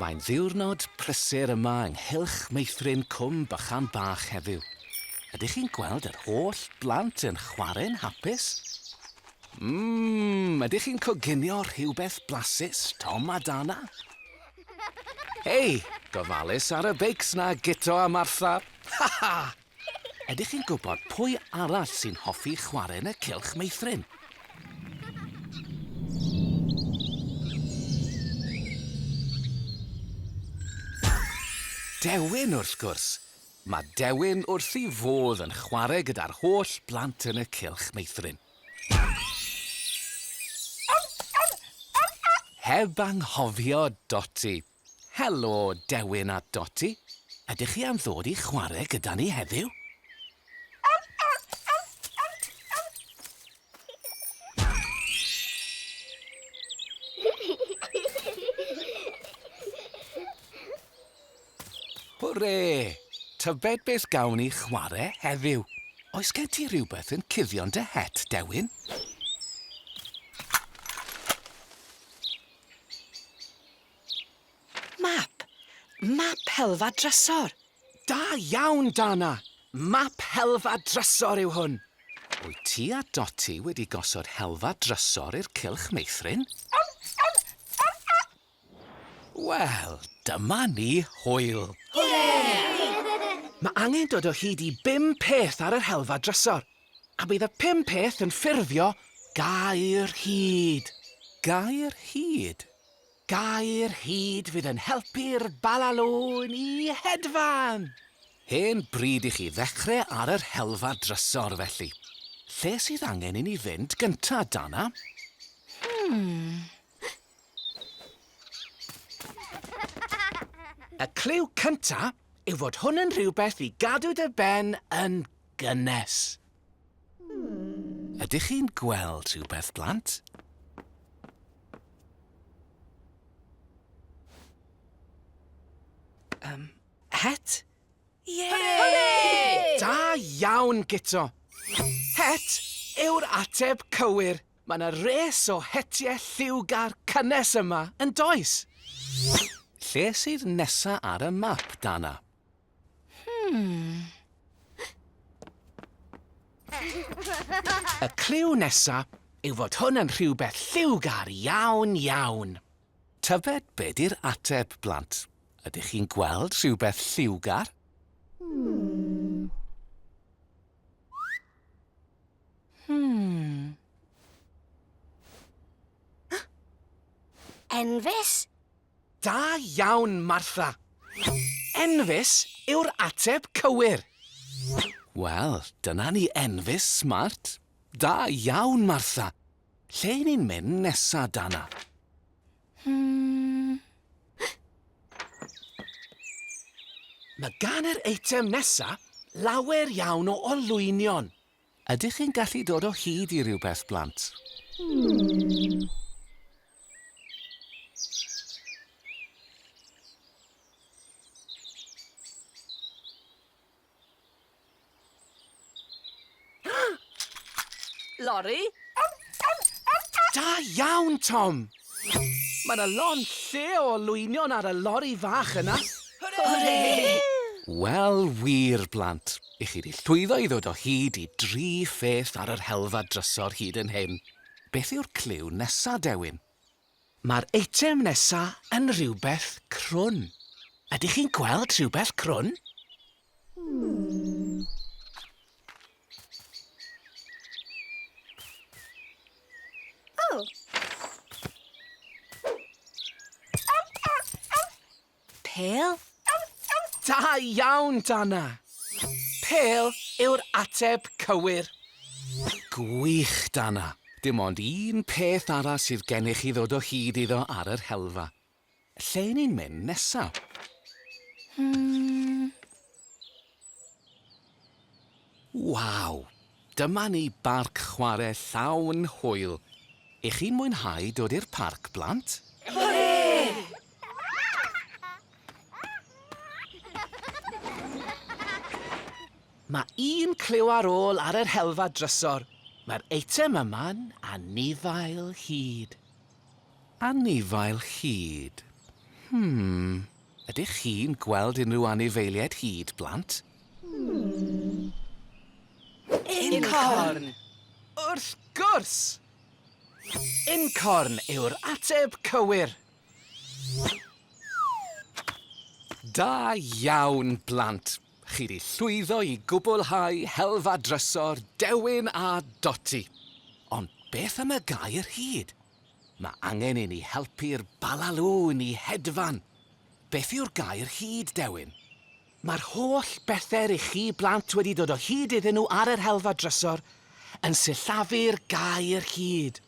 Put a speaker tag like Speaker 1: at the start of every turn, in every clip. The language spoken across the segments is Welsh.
Speaker 1: Mae'n ddiwrnod prysur yma ynghylch meithrin Cwm Bychan Bach heddiw. Ydych chi'n gweld yr holl blant yn chwarae'n hapus? Mmm, ydych chi'n coginio rhywbeth blasus, Tom a Dana? Hei, gofalus ar y beics 'na, Guto a Martha! Ha ha! Ydych chi'n gwybod pwy arall sy'n hoffi chwarae yn y cylch meithrin? Dewin, wrth gwrs! Mae Dewin wrth ei fodd yn chwarae gyda'r holl blant yn y cylch meithrin. Heb anghofio Doti! Helo, Dewin a Doti. Ydych chi am ddod i chwarae gyda ni heddiw? Hwre! Tybed beth gawn ni chwarae heddiw? Oes gen ti rhywbeth yn cuddio'n dy het, Dewin? Map! Map helfa drysor! Da iawn, Dana! Map helfa drysor yw hwn! Wyt ti a Dotty wedi gosod helfa drysor i'r cylch meithrin? Wel, dyma ni, hwyl! Mae angen dod o hyd i bum peth ar yr helfa drysor, a bydd y pum peth yn ffurfio gair hud. Gair hud? Gair hud fydd yn helpu'r balalôn i hedfan! Hen bryd i chi ddechre ar yr helfa drysor, felly. Lle sydd angen i ni fynd gynta, Dana? Y cliw cynta yw fod hwn yn rhywbeth i gadw dy ben yn gynnes. Ydych chi'n gweld rhywbeth, blant? Um, het? Ie! Da iawn, Gito! Het yw'r ateb cywir. Mae yna res o hetiau lliwgar cynnes yma, yn does? Lle sydd nesa ar y map, Dana? Y cliw nesa yw fod hwn yn rhywbeth lliwgar iawn, iawn. Tybed be di'r ateb, blant? Ydych chi'n gweld rhywbeth lliwgar? Enfys? Da iawn, Martha! Enfys yw'r ateb cywir. Wel, dyna ni Enfys, smart. Da iawn, Martha! Lle i ni'n mynd nesa, Dana? Hmm. Mae gan yr eitem nesa lawer iawn o olwynion. Ydych chi'n gallu dod o hyd i rywbeth, blant? Hmm. Lori? Da iawn, Tom! Mae 'na lond lle o olwynion ar y lori fach yna! Hwrê! Wel wir, blant, i chi 'di llwyddo i ddod o hyd i dri pheth ar yr helfa drysor hyd yn hyn. Beth yw'r cliw nesa, Dewin? Mae'r eitem nesa yn rhywbeth crwn. Ydych chi'n gweld rhywbeth crwn? Pêl? Da iawn, Dana! Pêl yw'r ateb cywir. Gwych, Dana. Dim ond un peth arall sydd gennych i ddod o hyd iddo ar yr helfa. Lle ni'n mynd nesa? Hmm. Waw! Dyma ni barc chware llawn hwyl! I chi'n mwynhau dod i'r parc blant? Hwre! Mae un cliw ar ôl ar yr helfa drysor. Mae'r eitem yma'n anifail hud. Anifail hud. Hmm, ydych chi'n gweld unrhyw anifeiliaid hud, blant? Incorn! Wrth gwrs! Incorn yw'r ateb cywir! Da iawn, blant! Chi di llwyddo i gwblhau helfa drysor Dewin a Doti. Ond beth am y gair hud? Mae angen i ni helpu'r Balalŵn i hedfan. Beth yw'r gair hud, Dewin? Mae'r holl bethe rych chi blant wedi dod o hyd iddyn nhw ar yr helfa drysor yn sillafu'r gair hud.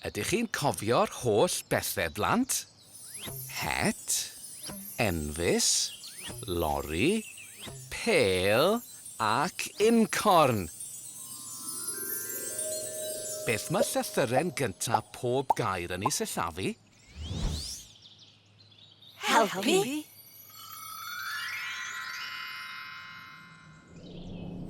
Speaker 1: Ydych chi'n cofio'r holl bethe blant? Het, enfys, lori, pêl ac uncorn! Beth mae llythyren gyntaf pob gair yn ei sillafu? Helpu?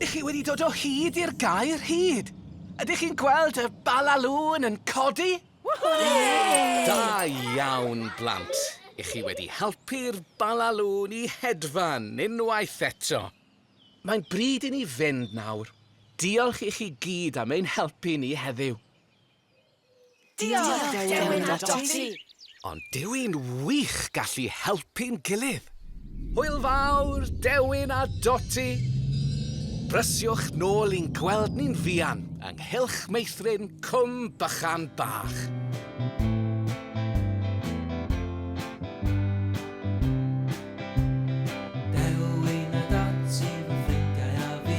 Speaker 1: Ych chi wedi dod o hyd i'r gair hyd? Ydych chi'n gweld y balalŵn yn codi? Da iawn, blant. Ych chi wedi helpu'r balalŵn i hedfan unwaith eto. Mae'n bryd i ni fynd nawr. Diolch i chi gyd am ein helpu ni heddiw. Diolch, Dewin a Dotty! Ond dyw i'n wych gallu helpu'n gilydd! Hwyl fawr, Dewin a Dotty! Brysiwch nôl i'n gweld ni'n fuan ynghylch meithrin Cwm Bychan Bach. Dewin a Dotty, fy ffrindiau a fi.